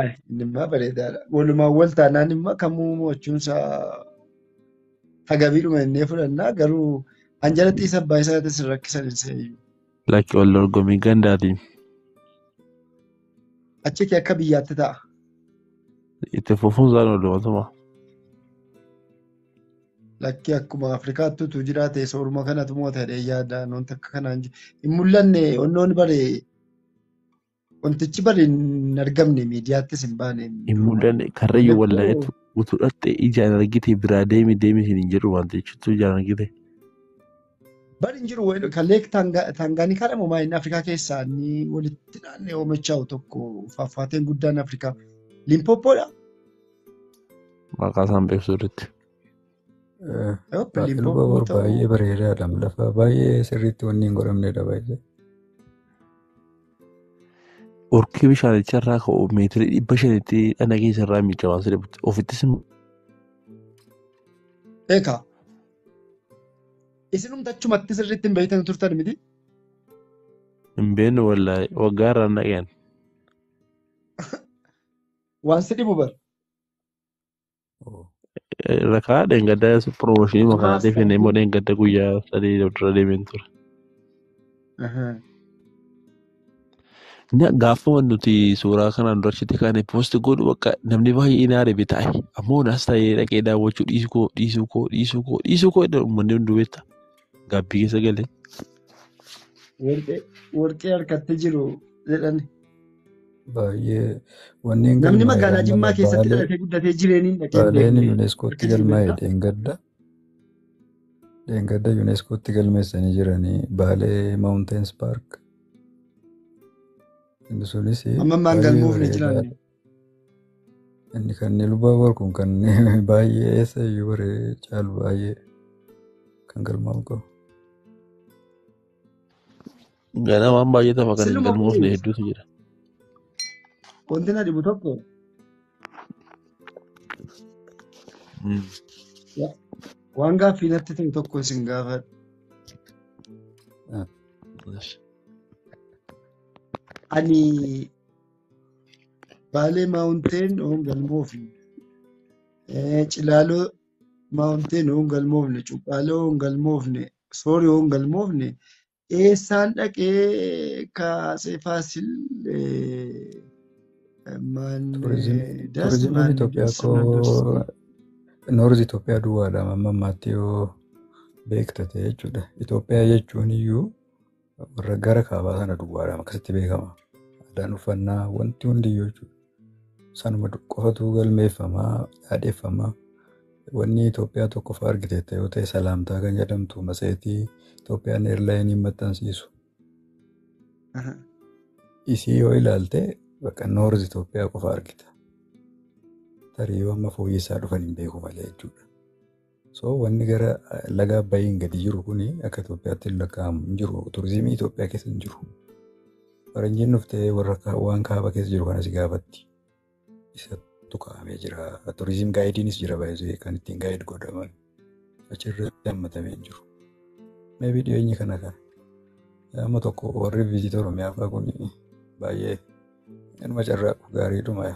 Ay, Innimmaa bareedaadha. Walumaan wal taanaan immoo kamuu mo'achuun isaa tagabiidhuma innee fudhannaa garuu an jalatti isa abbaa isaatis hin rakkisan hin seeyyu. Lakki wal dorgommii gandaatiin Achitti akka biyyaatti ta'a. itti fufuun isaan oolmatuma. Lakki akkuma Afrikaatti utuu jiraate sooruma kanatu mo'ata jedhee yaada. Wanti akka kanaan hin mul'anne onnoon baree Wantichi bari hin argamne miidiyaattis hin baane. Hin mul'anne karrayyuu Mallattoo- wallaayatu utuu dhaxxee ijaan argite biraa deemi deemi siin hin jedhu waan ta'eef utuu ijaan argite. Bari hin jiru wayil- kan leek Taanga- taangaanikaa dha moomaa inni Afrikaa keessaa inni walitti naannee oomachaa'u tokko faafaateen guddaan Afrikaa. Limpooppoodha. Maqaa isaan beeksisuu irratti. Open Luba bor bobbuu ta'uu baay'ee bareedaadha. Lafa baay'ee sirriitti wanni hin godhamnedha baay'ee. Urkii bishaanicha irraa ka'u meetirii dhibba shanitti dhana keessa irraa miicamaa siree butte. Ofittis immoo eekaa isinumti achumatti sirriitti hin beektan turtan miti hin beeknu wallaahi waggaa irraa naqeen. waan si dhibu bar Irra kaa dheengadda promooshinii Maaf makanaa deefine immoo qabduu? dheengadda guyyaa sadii dura deemeen ture. Aha. Na gaafuma nuti suuraa kanaan dura achitti kaane poosti godhu bakka namni baay'ee na aribe taa'e. Ammoo naas taa'ee dhaqee daawwachuu dhiisuu koo dhiisuu koo dhiisuu koo dhiisuu koo jedha uummanni hunduu beekta. Gaabbii keessa galee. Warqee warqee harkatti jiru jedhan. Baay'ee wanneen Namni galmaa'e magaalaa amma Jimmaa keessatti baalee dhalatee guddatee jireeniin dhaqee hin baaleen beekne yuuneeskootti harka jiru galmaa'e beektaa? dheengadda. Dheengadda yuuneeskootti galmeessanii jiranii baalee maawunteens paark. Inni sunis Amma ammaan baay'ee galmoofne bareedaa jiraanne. Inni kan Ilubaaboor kun kan baay'ee eessa iyyuu bare caalu baay'ee kan galmaa'u qabu. Ganaa waan baay'ee tafa kan hin Siluma galmoofne kunis hedduutu jira. wanti na dhibu tokko Mm. wa- waan gaaffii natti ta'e tokko isin gaafadha. Ah, Yes. Ani Baalee Maawunteen oon galmoofne. Eh, Cilaaloo Maawunteen oon galmoofne. Cuqqaaloo oon galmoofne. Soori oon galmoofne. Eessaan dhaqee ka Atsee Faasil eh, maan Turizim, eh, das turizimiin maan Itoophiyaa das maan das koo noorzi Itoophiyaa duwwaadha amma ammaatti yoo beektate jechuudha. Itoophiyaa jechuun iyyuu warra gara kaabaa sana duwwaadhaan akkasitti beekama. Aadaan uffannaa wanti hundiyyuu jechuudha. Sanuma qofatu galmeeffamaa yaadeffamaa. Wanni Itoophiyaa tokkoffaa argiteetta yoo ta'e salaamtaa kan jedhamtu matseetii Itoophiyaan eerlaayiniin maxxansiisu. Isii yoo ilaalte bakka noorz Itoophiyaa qofa argita. Tarii yoo amma fooyyessaa dhufan hin beeku malee jechuudha. So wanni gara laga Abbayiin gadi jiru kun akka Itoophiyaatti hin lakkaa'amu hin jiru. Turizimii Itoophiyaa keessa hin jiru. Faranjiin dhuftee warra kaa- waan kaaba keessa jiru kana si gaafatti. Isattu kaa'amee jira. Turizim gaayidiinis jira baay'ee kan ittiin gaayid godhaman. Achirratti hammatamee hin jiru. Meebii dhiyeenya kana kan amma tokko warri viizitii Oromiyaa fa'aa kun baay'ee inuma carraaqu gaariidhuma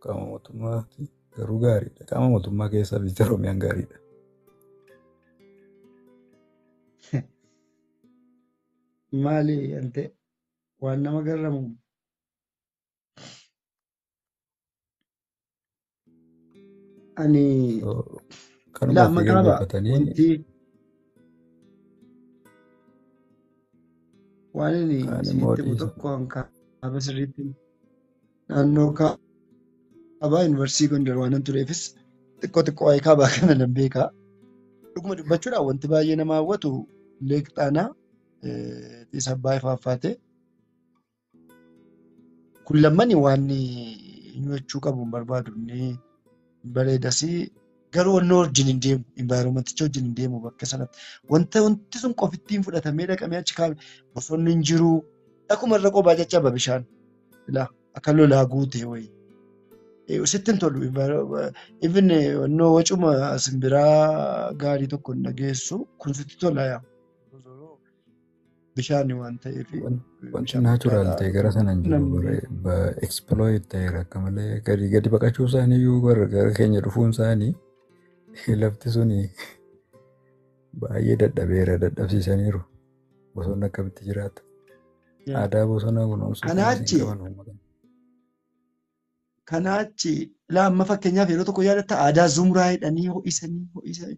qaama mootummaati. Garuu gaariidha. Qaama mootummaa keessaa viizita Oromiyaan gaariidha. Maali ante waan nama garramu ani Yoo kanuma laa ofii maqaa ba'a gaggeeffatanii wanti waan ani kaan immoo isinitti himu dhiisa. tokko hankaaba sirriitti Naannoo kaabaa yuunivarsiitii Gondar waanan tureefis xiqqoo xiqqoo waa'ee kaabaa kana nan beeka. Dhuguma dubbachuudhaan wanti baay'ee nama hawwatu Leek Xaanaa Xiis Abbaay faaffaatee kun lammani waan inni hojjechuu qabu hin barbaadu. Inni bareedasi garuu wanni wajjin hin deemu environmenticha wajjin hin deemu bakka sanatti wanta wanti sun qofittiin fudhatamee dhaqamee achi kaa'ame bosonni hin jiru akkuma irra qobaa caccaba bishaan ilaa akka lolaa guute wayii. Eh, Sitti hin tolu even wannoo wacuma simbiraa gaarii tokko hin dhageessu kun sitti tola yaa. bishaan waan ta'eef Wanti naachuraal ta'e gara sana hin jiru. namni Bara ekspilooyit ta'eera akka malee gadi gadi baqachuu isaanii iyyuu bara gara keenya dhufuun isaanii lafti suni baay'ee dadhabeera dadhabsiisaniiru. Bosonni akkamitti jiraata? Yeah. Aadaa bosonaa kunuunsuu kanas hin Kanaachi qaban uummata. kanaachi laamma fakkeenyaaf yeroo tokko yaadatta aadaa zumraa hidhanii ho'isanii ho'isanii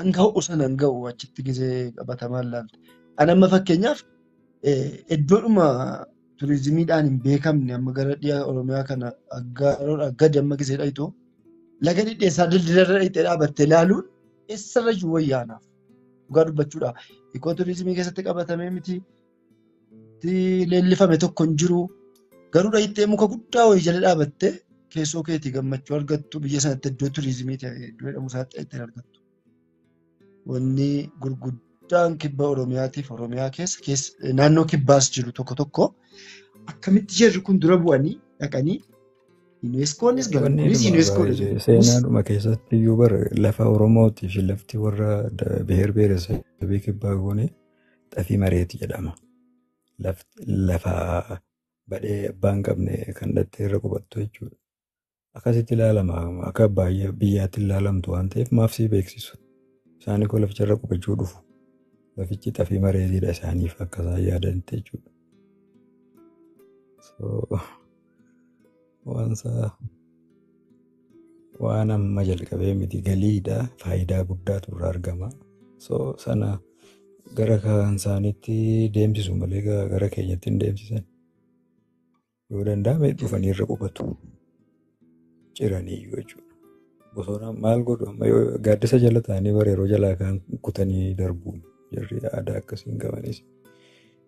An ga'u san an ga'u achitti gisee qabatamaan laalte. An amma fakkeenyaaf iddoodhuma turizimiidhaan hin beekamne amma gara dhiha Oromiyaa kana aggaaroo gadi amma gisee dhayitu laga dhidheessaa dildilarra dhayitee dhaabattee laaluun eessarrayyuu wayyaanaaf dhugaa dubbachuudha. Ikoo turizimii keessatti qabatamee miti leellifame tokko hin jiru. Garuu dhahittee muka guddaa wayii jala dhaabattee keessoo keetii gammachuu argattu biyya sanatti iddoo turizimii ta'e iddoo jedhamu isaatti ittiin argattu. Wanni gurguddaan kibba Oromiyaatiif Oromiyaa keessa keessa naannoo kibbaas jiru tokko tokko akkamitti jarri kun dura bu'anii dhaqanii UNESCOonis Wanni galmoonnis dhuma UNESCO baay'ee jedhamus seenaadhuma keessatti iyyuu bara lafa Oromootii fi lafti warra da- biheer biheeresabii kibbaa goonee xafii mareeti jedhama. Lafa badhee abbaa hin qabne kan dhattee irra qubattu jechuudha. Akkasitti ilaalama akka baay'ee biyyaatti ilaalamtu waan ta'eef maaf sii beeksisu. Isaan koo laficha irra qubachuu dhufu. Lafichi xafii mareetiidha isaaniif akka isaan yaadanitti jechuudha. Waansaa waan amma jalqabee miti galiidha faayidaa guddaatu irraa argama. So sana gara kan isaaniitti deemsisu malee ga- gara keenyatti hin deemsisan. Yoo danda'ame dhufanii irra qubatu. Ciranii iyyuu jechuudha. Bosona maal godhu amma yoo gaaddisa jala ta'anii bara yeroo jalaa kaan kutanii darbu. Jarri aadaa akkasii hin qabanis.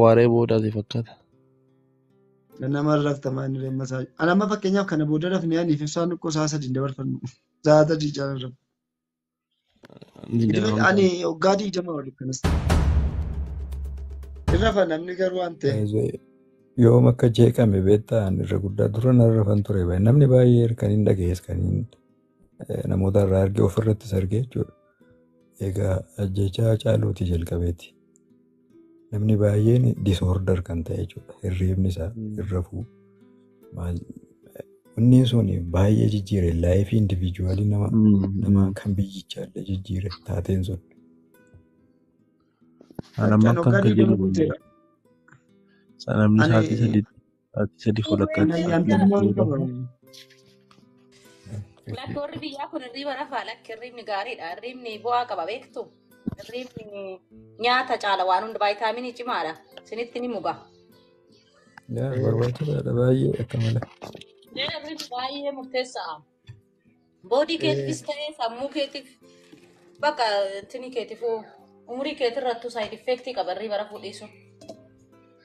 Waaree boodaati fakkaata. Nama rafta maanni damma isaa. Ani amma fakkeenyaaf kana booda rafnee aniif ibsaan dhukkoo isaa sadiin dabarfannu. Isaa sadii jaalan rafu. Idileen ani waggaa digdama ol kanas ta'e. Irra fa namni garuu waan ta'e. Baay'ee yoom akka jeeqame beektaa ani irra guddaa dura narra rafan ture baay'ee namni baay'ee kan hin dhagees kan hin namoota irraa arge ofirrattis arge jechuudha. Egaa ajjeechaa Hacaaluutii jalqabeeti. Namni baay'een disorder kan ta'e jechuudha. Hirriibni isaa hin rafuu. Inni sun baay'ee jijjiire laayifii indiviijuwaalii nama nama kan biyyichaa illee jijjiire taateen sun. Namni isaatii sadii Ati sadi fulakkaatti Kana sa'aatii lama ayyaantummaan ta'uu qaba. qaba. Lakki warri biyyaa kun hirriiba rafaa lakki hirriibni gaariidha. Hirriibni bu'aa qaba beektu. Hirriibni nyaata caala waan hunda vaayitaaminii cimaadha. Isinitti ni muga. Yaa Eh, barbaachisaadha baay'ee akka malee. Hirriibni baay'ee murteessaadha. Boodii keetiifis ta'ee sammuu keetiif bakka tini keetiifuu umurii keetirrattuu saayid effeektii qaba irrii bara fuudhiisu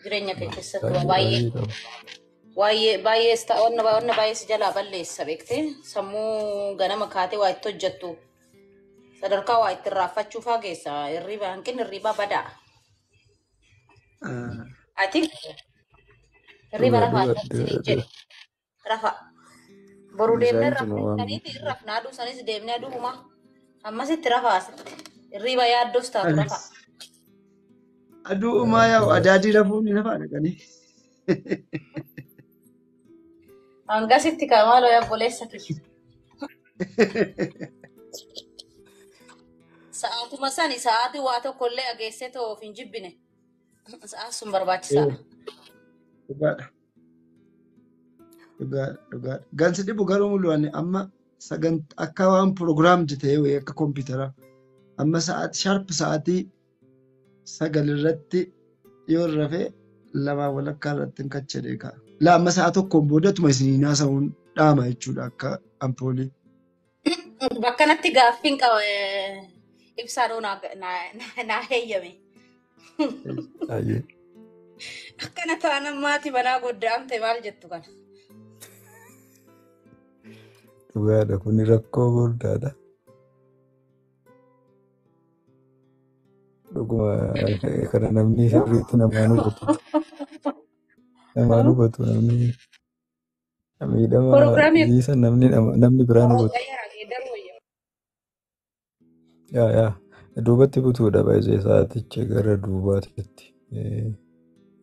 jireenya kee keessatti waa baay'ee baay'ee baay'ee sta- wanna wanna baay'ee si jalaa balleessa beektee sammuu ganama kaatee waa itti hojjettu sadarkaa waa itti irraanfachuu faa geessa irriibaa hanqinni irriibaa badaa ati irriiba rafaa jedhe Rafa. Boru Miizaan deemnee tuma rafnee waan saniiti hin rafna aduu sanis deemnee aduu humaa. Ammasitti rafa asitti. Hirriiba yaaddoos taatu rafa. Anas. Aduu umaa yaa'u Abbaa. adaadii rafuun hin hafaa dhaqanii. Hangasitti kaa maaloo yaa obboleessa kiyya. Sa'aatuma sani sa'aatii waa tokko illee ageessee ta'uuf hin jibbine. Sa'aan sun barbaachisaadha. Dhugaadha. Dhugaadha, dhugaadha. Gan si dhibu garuu mul'u ani amma sagant akka waan program jete wayii akka kompiitaraa. Amma sa'aatii sharp sa'aatii sagal irratti yoo rafe lamaa walakkaa irratti hin kache deekaa. La amma sa'a tokkoon boodatuma isin hin haasa'uun dhaama jechuudha akka ampoolii. Bakkanatti gaaffiin qaba eh, ibsaadhoo naa naa- naa- naa heeyyame. Ayyee. Akkana taanan maati manaa godda'amte maal jettu kana. Dhugaadha kun rakkoo guddaadha. Dhuguma eh, kana namni sirriitti namaan hubatu. Namaan hubatu namni. Miidhama Prograamii dhiisa namni nama- namni biraa nu butu. Waaqayyo irraa geeddaruu wayya. Yaa yaa duubatti butuudha baay'ee sa'aatichi gara duubaatitti.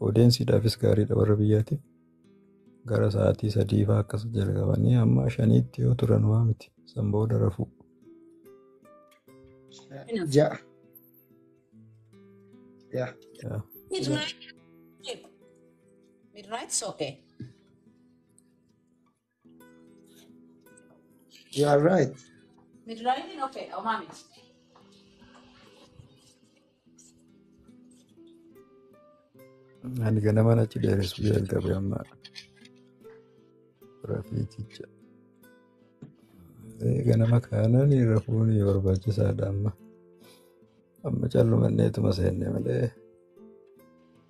Odeensiidhaafis gaariidha warra biyyaatiif gara sa'aatii sadii fa'aa akkas jalqabanii amma shaniitti yoo turan waa miti. San booda rafuu. Hinaaf. Ja'a. Yaa. Yaa. Midnight. Midnight is okay. You are right. Midraayitiin okay dha homaa miti. Ani ganama achi dheeressu jalqabe amma rafiiticha. Eh, Ganama kaanaan rafuun barbaachisaadha amma. Amma callumanneetuma seenne malee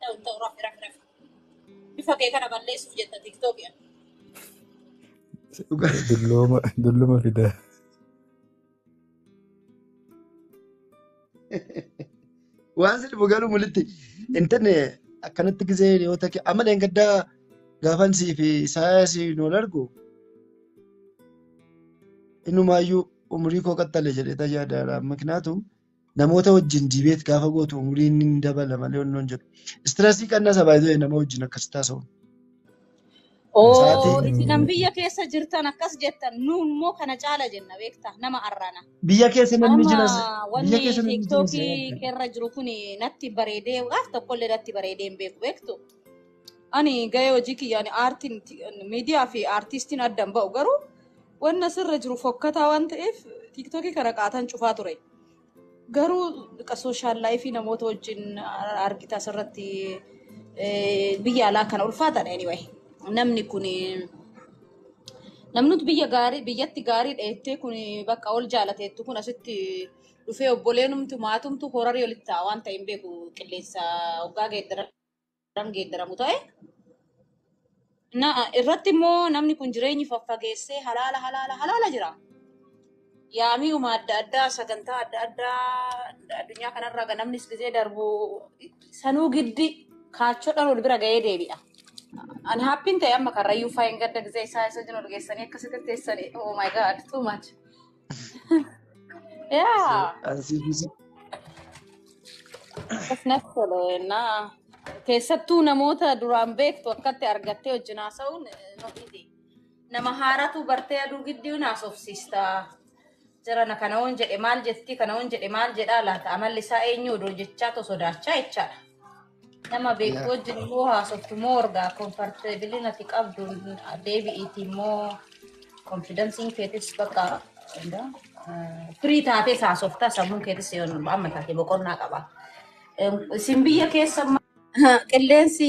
Ta'u hin ta'u rafi rafi rafi. Bifa kee kana balleessuuf jetta tiktoki ati. dhugaa Dullooma dulluma fida. waan si dhibu garuu mulitti hin tanne akkanatti gisee yoo ta'e amma dheengaddaa gaafan sii fi saayaa sii nu wal argu inumaayyuu umurii koo qaxxale jedhee tayyaadaadha. Miknaatum Namoota wajjin debate gaafa gootu umuriin ni dabala malee wannoon jedhu. Stressii qannasa by the way nama wajjin akkasitti haasa'uun. Oo Sa'aatii isin kan biyya keessa jirtan akkas jettan nu immoo kana caala jenna beektaa nama arrana. biyya keessa namni Amma jiras biyya wanni keessa namni jiras tiiktookii keerra jiru kun natti bareedee gaaf tokkollee natti bareedee hin beeku beektu. Ani gahee hojii kiyyaani aartiin miidiyaa fi aartistiin adda hin ba'u garuu Wanni asirra jiru fokkataa waan ta'eef tiiktookii kana qaataan cufaa ture. Garuu qa- sooshaal laayifii namoota wajjin argita asirratti eh, biyya alaa kana ulfaataadha anyway. Namni kun namni biyya gaarii biyyatti gaarii dheettee kun bakka ol jaalateettu kun asitti dhufee obboleenumtu maatumtu horarii olitti ta'a waan ta'e hin beeku qilleensa hoggaa geeddaran. kan geeddaramu ta'e na irratti immoo namni kun jireenyi faffageessee halaala halaala halaala jira. Yaami'uma adda addaa sagantaa adda addaa addunyaa kanarra ga- namnis gizee darbu sanuu giddi kaachoodhaan wal bira ga'ee deebi'a. An haappiin ta'e amma karrayyuu faayeen gadda gizee isaa isa jiru geessanii akkasitti teessanii oh my god too much. ያ akkas natti tole na keessattuu namoota duraan beektu akkatti argattee wajjin haasa'uun eh, not easy. nama haaratu bartee aduu gidduu naasofsiista jirana kana on jedhe maal jetti kana on jedhe maal jedhaa laata amalli isaa eenyu odoo jechaa to sodaachaa jechaadha Nama Yaa. beektu wajjin immoo haasoftu moo ergaa komforteebilii nati qabdu deebi'iiti immoo konfidansiin keetis bakka firii taatees haasofta sammuun keetis yoon amma taate boqonnaa qaba. Isin biyya keessa Qilleensi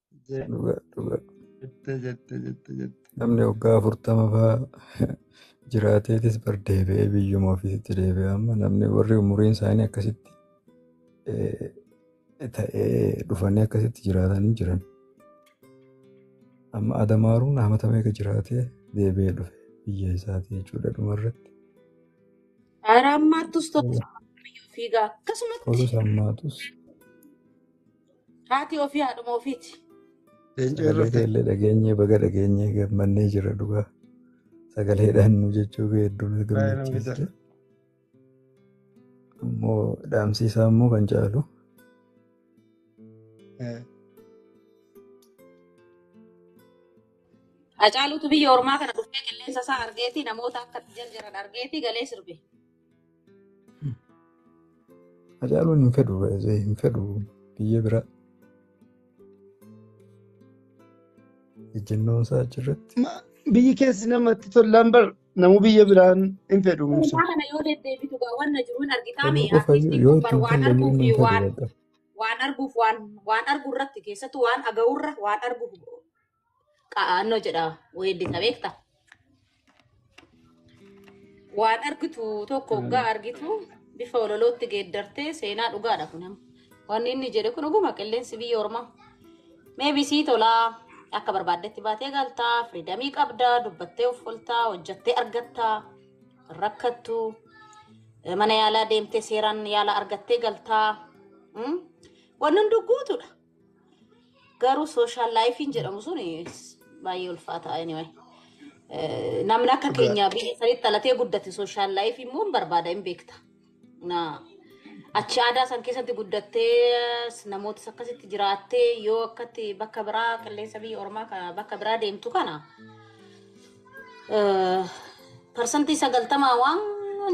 dhuga dhuga Jette jette jette jette. namni waggaa afurtama faa jiraateetis bar deebi'ee biyyuma ofiisitti deebi'e amma namni warri umuriin isaanii akkasitti eh, ta'ee dhufanii akkasitti jiraatan hin jiran amma adamaaruun hamata meeqa jiraatee deebi'ee dhufe biyya isaatii jechuudha dhumarratti Haaraammaattus tokko fiigaa akkasumatti tolus hammaatus Haati ofii haadhuma ofiiti. Leenca Sagalee irratti keellee dhageenyee baga dhageenyee gammannee jira dhugaa. Sagaleedhaan nu jechuu kee hedduu nu baay'ee nama gammachiiste. gaddara. Immoo dhaamsi isaa immoo kan caalu Eh, Hacaaluutu biyya ormaa kana dhufee qilleensa isaa argeeti namoota akka itti jarjaran argeeti galee sirbe. Hacaaluun hin fedhu baay'ee hin fedhu biyya biraa. Ejjennoon isaa achirratti. Ma- Biyyi keessi namatti tollaan bar namu biyya biraan hin fedhu musa. Dhugaa kana yoo deddeebitu gaa wanna jiru hin argitaa Fedhuu mee qofa artistiin yoo kun bar ittiin waan falle arguuf inni hin fedhu waan bakka. waan arguuf waan waan argu irratti keessattuu waan aga'urra waan argu qa'aannoo jedha weeddisa beekta. Waan argitu tokko oggaa argitu bifa ololootti geeddartee seenaa dhugaadha kun amma. Wanni inni jedhe kun dhuguma qilleensi biyya ormaa. Mee bisii tolaa akka barbaaddetti baatee galtaa firiidamii qabdaa dubbattee uffoltaa hojjattee argattaa rakkattu mana yaalaa deemtee seeraan yaala argattee galtaa. Mm? Wanni hunduu guutuudha. Garuu social life jedhamu sun baay'ee ulfaataa anyway. Eh, Namni akka Dhugaa. keenya biyya sanitti dhalatee guddate social life immoo hin barbaada hin beekta. Na achi aadaa san keessatti guddattee namoota akkasitti jiraattee yoo akkatti bakka biraa qilleensa biyya ormaa ka- bakka biraa deemtu kana eh, parsantii sagaltamaa waan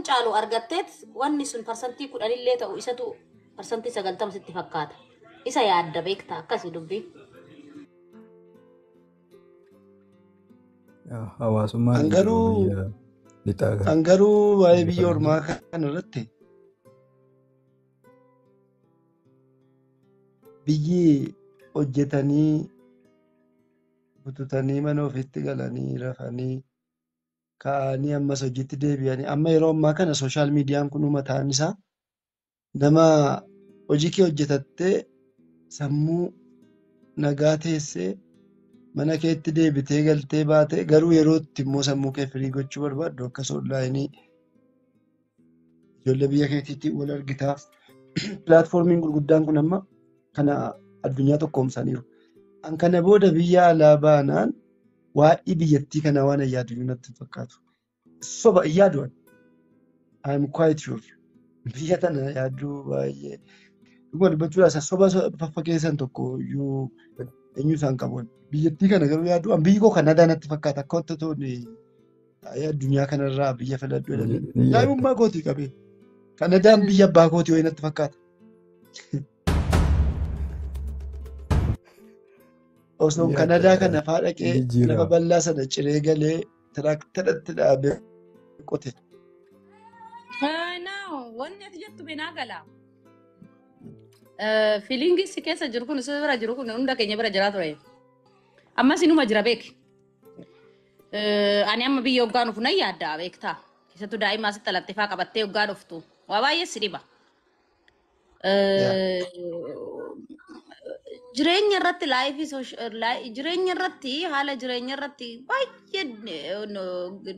caalu argatteet wanni sun parsantii kudhanillee ta'u isatu Parsantii 90 sitti fakkaata. Isa yaadda beekta akkasi dubbii. Yaa, Hawaasummaan An hin jiru garuu biyya lixaa kana. an garuu waa'ee Biyya biyya kana ormaa kana irratti biyyi hojjetanii bututanii mana ofiitti galanii rafanii ka'anii ammas hojiitti deebi'anii amma yeroo ammaa kana sooshaal miidiyaan kun mataan isaa Nama hojii kee hojjetattee sammuu nagaa teessee mana keetti deebitee galtee baatee garuu yeroo itti immoo sammuu kee firii gochuu barbaaddu akkas onlaayinii ijoollee biyya keetiitiin wal argitaa. Pilaatfoormiin gurguddaan kun amma kana addunyaa tokkoomsaniiru. An kana booda biyya alaa baanaan waa'ee biyyattii kanaa waan yaadu iyyuu natti hin fakkaatu. Soba hin yaadu ani. I am quite sure. Biyya tana yaadduu baay'ee. Dhuguma dubbachuudhaaf isa soba so- faffakeessan tokko iyyuu eenyu isaan qabu. ani. Biyyattii kana garuu yaadduu an biyyi koo Kanadaa natti fakkaata akka wanta tooni taa'ee addunyaa kanarraa biyya filadhu Ni jedhanii. ni yaadda. Daa'imummaa kootii qabee. Kanadaan biyya abbaa kootii wayii natti fakkaata. Ni Osoon yaadda. Kanadaa kana faa dhaqee lafa Jijjiirama. bal'aa sana ciree galee Tiraaktaratti dhaabee qote. Naaw wanni ati jettu beenaa gala. Fiiliingii si keessa jiru kun si bira jiru kun hunda keenya bira jiraa ture. Ammas inuma jira beeki. Ani amma biyya hoggaa nuuf nan yaadda beektaa. Keessattuu daa'ima asitti dhalatteefaa qabattee hoggaa dhuftu. Waa baay'ee si dhiba. Yeah. Eh, jireenya irratti laayifii sosh- laay- jireenya irratti haala jireenya irratti baay'ee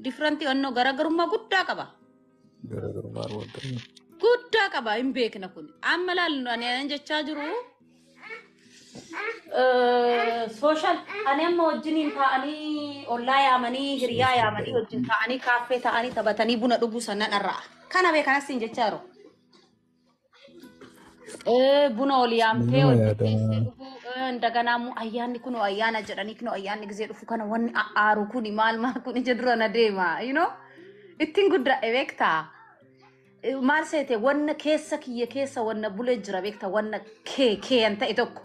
differentii onnoo garaagarummaa guddaa qaba. Garaagarummaa argatanii. Guddaa qaba hin beekna kun. Amma laallu ani anan jechaa jiru sooshaal ani amma wajjiniin taa'anii ollaa yaamanii hiriyaa yaamanii wajjin taa'anii kaaffee taa'anii taphatanii buna dhuguu sannan irraa. Kana beekanas hin jechaa jiru. Ee, buna ol yaamtee Nama ol yaadamu. qixxeessee dhufuu ee, indaganaa immoo ayyaanni kun ayyaana jedhanii kun ayyaanni gisee dhufu kana wanni aaru kun maal maal kun ija dura na deema you know ittiin guddaa beektaa Eh, maal seete wanna keessa kiyya keessa wanna bulee jira beektaa wanna kee kee an ta'e tokko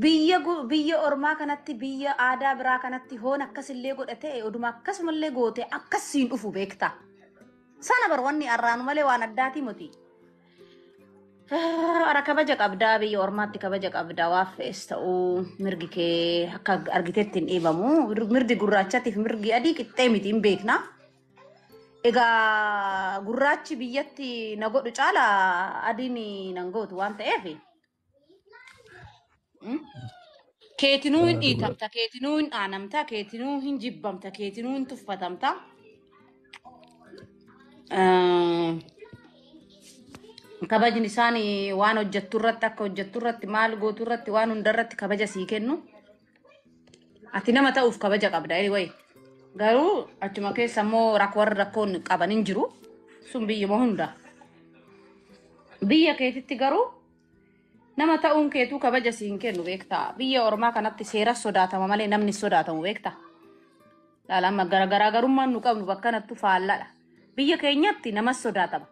Biyya gu- biyya ormaa kanatti biyya aadaa biraa kanatti hoon akkasillee godha ta'e oduma akkasumallee goote akkas siin dhufu beekta. Sana bar wanni arraanu malee waan addaatii miti. Ara kabaja qabdaa biyya ormaatti kabaja qabdaa waan fe'es ta'uu mirgi kee akka argitetti hin dhiibamu. Mirgi gurraachatiif mirgi adii qixxee miti hin beekna. Egaa gurraachi biyyatti na godhu caala adiin nan gootu waan ta'eef mm, keetinuu hin Kanaaf dhugaa. dhiitamta, keetinuu hin dhaanamta, keetinuu hin jibbamta, keetinuu hin tuffatamta. Ah, Kabajni isaan waan hojjettu irratti akka hojjettu irratti maal gootu irratti waan hunda irratti kabaja sii kennu. Ati nama ta'uuf kabaja qabda anyway. Garuu achuma keessa immoo rak- warri rakkoon qaban hin jiru. Sun biyyuma hunda. Biyya keetitti garuu nama ta'uun keetuu kabaja si hin kennu beektaa. Biyya ormaa kanatti seera sodaatama malee namni hin sodaatamu beektaa. Laala amma gara garaagarummaan nu qabnu bakka kanattu faalladha. Biyya keenyatti namas sodaatama.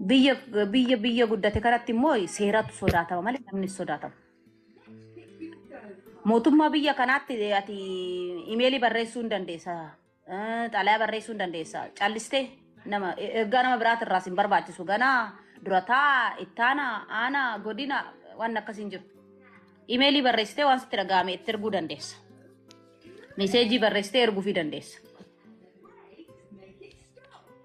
Biyya biyya biyya guddate kanatti immoo seeratu sodaatama malee namni hin sodaatamu. Mootummaa biyya kanaatti ati imeelii barreessuu hin dandeessa. eh, Xalayaa barreessuu hin dandeessa. Callistee nama ergaa nama biraati irraas hin barbaachisu. Ganaa durataa ittaana aana godina waan akkas hin jiru. Imeelii barreessitee waan sitti dhaga'ame itti erguu dandeessa. Meseejii barreessitee erguufii dandeessa.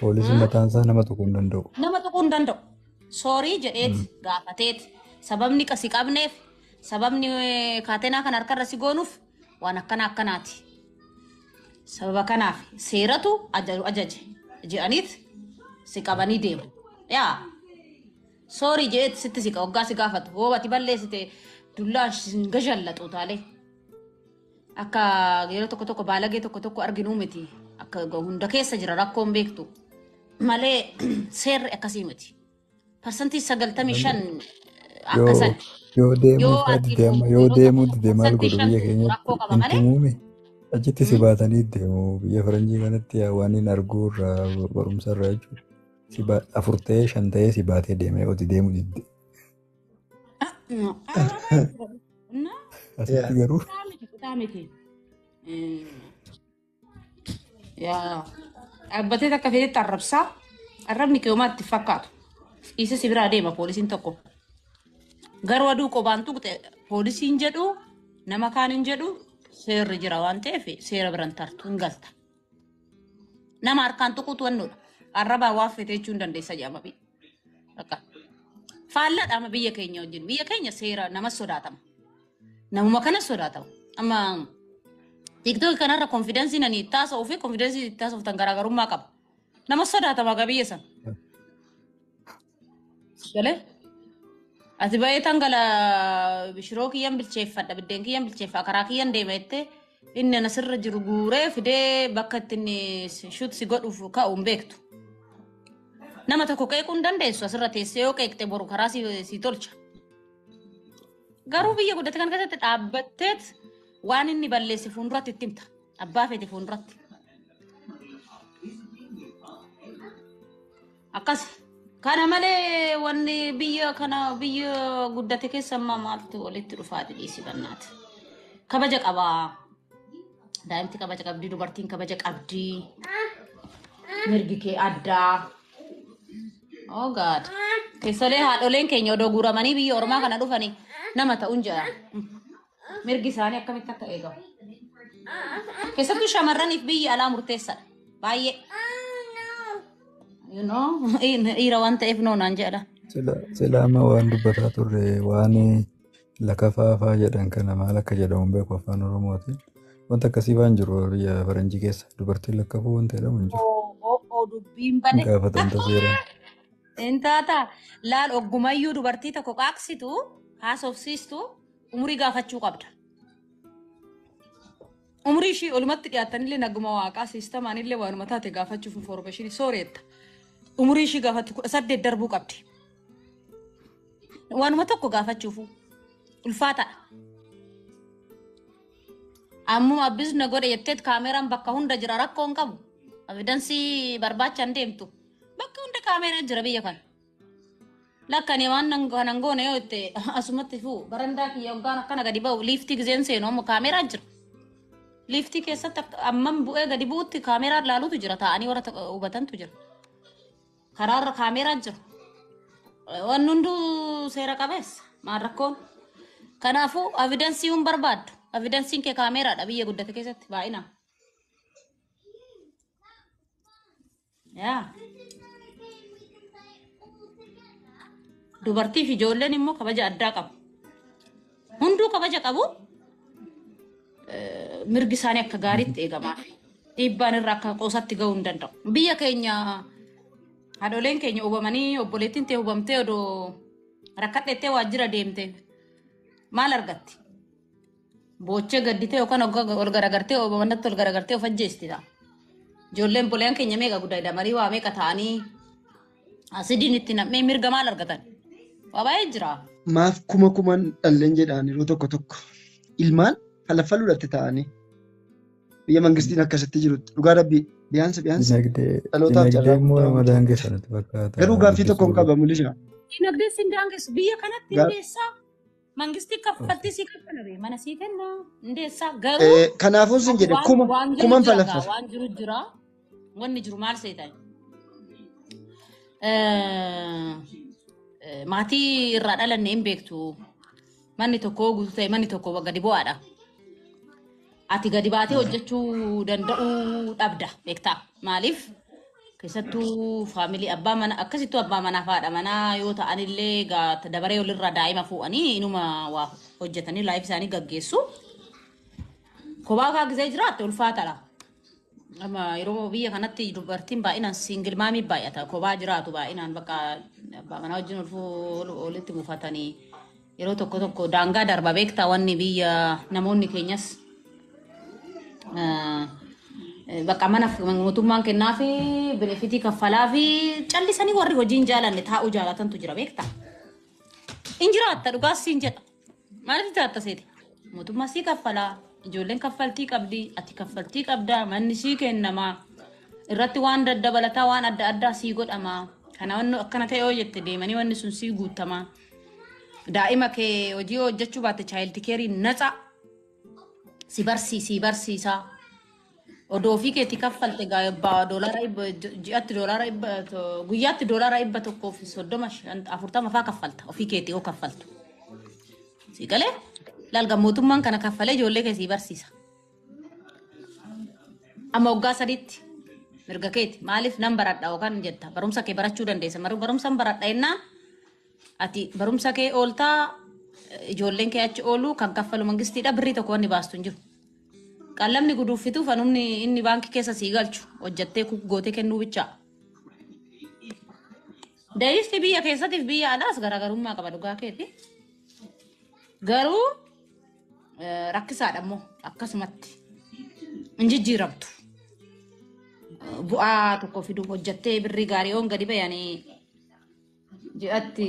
Poolisiin mataan isaa nama tuquu hin danda'u. Nama tuquu hin danda'u. Soorii jedheet gaafateet sababni qasi qabneef sababni eh, kaatenaa kan harkarra si goonuuf waan akkana akkanaati. Sababa kanaaf seeratu ajaru ajaje jedhaniit si qabanii deemu. Yaa soorii jedheet sitti si hoggaa si gaafatu hoo ati balleessite dullaan si hin gashallaxu taalee. Akka yeroo tokko tokko baalagee tokko tokko arginuu miti. Akka hunda keessa jira rakkoon beektu. Malee seerri akkasii miti. Parsantii sagaltamii shan akka Yoo san yoo deemuu yoo faa ati dide amma yoo yeroo deemuu tokko dide maal parsantii godhu shan biyya keenyatti rakkoo qaba hin malee tumuumi. Achitti si mm, baatanii deemu biyya faranjii kanatti yaa waan hin arguu irraa barumsa irraa jechuudha. Si ba- afur ta'ee shan ta'ee si baatee deema yoo ati deemuu didde. Ah, no. Araara baay'ee jira. Na Asitti Yeah. garuu kutaa miti kutaa miti. Eh, Yaa dhaabbatee takka feetetti arrabsaa arrabni qiyoomaatti fakkaatu. Isa si biraa deema poolisiin tokko. Garuu aduu qobaan tuqxe poolisiin jedhu nama kaan hin jedhu seerri jira waan ta'eef seera biran tartu hin galta. Nama harkaan tuquutu wannoodha. Arrabaa waan fete jechuun dandeessa jedhama. bi- Bakka. Faalladha amma biyya keenya wajjin. Biyya keenya seera nama sodaatama. Namuma kana sodaatama. Amma TikTok kanarra konfidensi nani itti haasa'uu fi konfidensi itti haasoftan garaagarummaa qaba. Nama sodaatama akka biyya sana. Galee? Ati ba'ee tan gala shiroo kiyyan bilcheeffadha biddeen kiyyan bilcheeffa karaa kiyyan deema jettee inni ana sirra jiru guuree fidee bakka itti inni shut si godhuuf ka'u hin beektu. Nama tokko qeequu hin dandeessu asirra teessee yoo qeeqte boru karaa si si tolcha. Garuu biyya guddate kan keessatti dhaabbatteet waan inni balleesse fuulduratti itti himta. Abbaa feete fuulduratti. Akkasi. Kana malee wanni biyya kana biyya guddate keessa ammaa maaltu walitti dhufaati dhiisi bannaati. Kabaja qabaa. Daa'imti kabaja qabdi, dubartiin kabaja qabdi. Mirgi kee addaa. Oh God. Keessolee haadholeen keenya odoo guuramanii biyya ormaa kana dhufanii nama ta'uun jedha. mirgi isaanii akkamitti akka eegamu. Keessattuu shamarraniif biyyi alaa murteessaadha. Baay'ee. You know, dhiira waan ta'eef noo naan jedha. Sila sila amma waan dubbataa turre waan lakafaa faa jedhan kana maal akka jedhamu hin beeku afaan oromootiin. Wanta akkasii waan jiru biyya faranjii keessa dubartiin lakkafuu wanta jedhamu hin jiru. Oo oo oo dubbiin Hin bade. gaafatamta seeraan. Intaata laal oggumayyuu dubartii tokko qaaqsitu haasofsiistu Umurii gaafachuu qabda. Umurii ishii olumatti dhiyaattanillee naguma waaqaa siistamaanillee waanuma taate gaafachuuf infoormeeshinii sooreetta. Umurii ishii gaafatti kudha saddeet darbuu qabdi. Waanuma tokko gaafachuuf ulfaataadha. Ammuma abbis na godhe jetteet kaameeraan bakka hunda jira rakkoon qabu. Evidansii barbaachaan deemtu. Bakka hunda kaameeraan jira biyya kana. Lakkani waan nan kanan goone yoo itti asumatti fuu barandaa kiyya hoggaan akkana gadi ba'u liiftii gizeen seenu amma kaameeraa jira. Liiftii keessatti akka- amman bu'ee gadi bu'utti kaameeraa ilaalutu jira taa'anii warra ta- hubatantu jira. Karaarra kaameeraa jira. Waan hunduu seera qabeessa maal rakkoon. Kanaafuu avidansii hin barbaaddu. Avidansiin kee kaameeraadha biyya guddate keessatti baay'inaan. Yaa. Dubartii fi ijoolleen immoo kabaja addaa qabu. Hunduu kabaja qabu. Eh, Mirgi isaanii akka gaariitti eegamaa. Dhiibbaan irra akka qoosatti ga'uu hin danda'u. Biyya keenya haadholeen keenya hubamanii obboleettiin tee hubamtee odoo rakkadheettee waajjira deemte maal argatti? Boochee gadditee yookaan ogga- ol garagartee o- mannatti ol garagartee of ajjeesti ta'a. Ijoolleen boleen keenya meeqa guddaa marii waa meeqa ta'anii asidiin itti nam'ee mirga maal argatan? Waa baay'ee jira. Maaf kuma kuman dhalleen jedhaan yeroo tokko tokko ilmaan falaffaluudhaatti ta'anii biyya mangistiin akkasitti jirutti dhugaa rabbii biyaansa biyaansa Dinagdee dhalootaaf dinagdee carraa immoo guddaa nama uumuu danda'a. daangessa natti fakkaata Garuu gaaffii tokkoon guddisuu qaba mul'isa. Dinagdee sin daangessu biyya kanatti Gaa- hindeessaa Mangistii kaffaltii sii kaffala bee mana sii kenna hundeessaa garuu Eh, Kanaafuu sin ati jedhe waan kuma waan jiru kuman jira gaa falaffaf. waan jiru jira wanni jiru maal seetan maatii irraa dhalanne hin beektu manni tokko guutuu ta'e manni tokko gadi bu'aadha Ati gadi baatee hojjechuu danda'uu dhabda beektaa maaliif keessattuu faamilii abbaa mana akkasittuu abbaa manaa fi haadha manaa yoo ta'anillee gaa- dabaree walirraa daa'ima fuudhanii inuma waa hojjetanii laayif isaanii gaggeessu. Kophaa kaa gisee jiraatte ulfaatadha. Amma yeroo biyya kanatti dubartiin baay'inaan siingil maamii baay'ata. Kophaa jiraatu baay'inaan bakka abbaa manaa wajjin ulfuu walitti buufatanii yeroo tokko tokko daangaa darba beektaa wanni biyya namoonni keenyas eh, eh, bakka mana f- mootummaan kennaa fi benefitii kaffalaa fi callisanii warri hojiin jaalanne taa'uu jaalatantu jira beektaa. In jiraatta dhugaas siin jedha. Maaliif jaatta seete? Mootummaa sii kaffalaa, ijoolleen kaffaltii qabdi, ati kaffaltii qabda, manni sii kennama, irratti waan daddabalataa waan adda addaa sii godhama. Kana wanni akkana ta'e yoo jette deemanii wanni sun sii guuttama. Daa'ima kee hojii yoo hojjechuu baatte chaayildi keerii naxa si barsii sii barsiisaa. Odoo ofii keetii kaffalte gaa- ba- doolaara dhibba- ji- ji'atti doolaara dhibba to- guyyaatti doolaara dhibba tokkoo fi soddoma shan- afurtama faa kaffalta ofii keetii yoo kaffaltu si galee laalga mootummaan kana kaffalee ijoollee kee sii barsiisa amma waggaa sadiitti mirga keeti maaliif nan baradha yookaan jetta barumsa kee barachuu dandeessa Maru- barumsan baradha jennaan ati barumsa kee ooltaa eh, ijoolleen kee achi ooluu kan kaffalu mangistiidha birrii tokko wanni baastu hin jiru Qallabni guduuffitu fanumni inni baankii keessa sii galchu hojjattee kuk gootee kennuu bichaa. Dayisti biyya keessatiif biyya alaas garaagarummaa qaba dhugaa keeti. Garuu eh, rakkisaadha immoo akkasumatti hin jijjiiramtu. Eh, Bu'aa tokko fiduuf hojjattee birrii gaarii'oon gadi bayanii ji'atti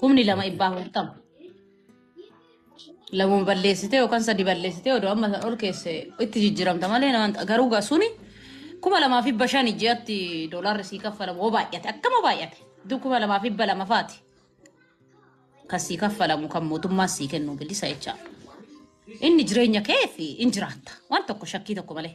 Kumni lama ibbaa hurtama. Lamuun balleessitee yookaan sadi balleessitee odoo amma san ol keesse itti jijjiiramta malee nama hin- garuu gaa suni kuma lamaa fi dhibba shani ji'atti doolaarri sii kaffalamu hoo baay'ate akkama baay'ate iddoo kuma lamaa fi dhibba lama faati kan sii kaffalamu kan mootummaan sii kennu bilisa jechaa inni jireenya kee fi in jiraatta waan tokko shakkii tokko malee.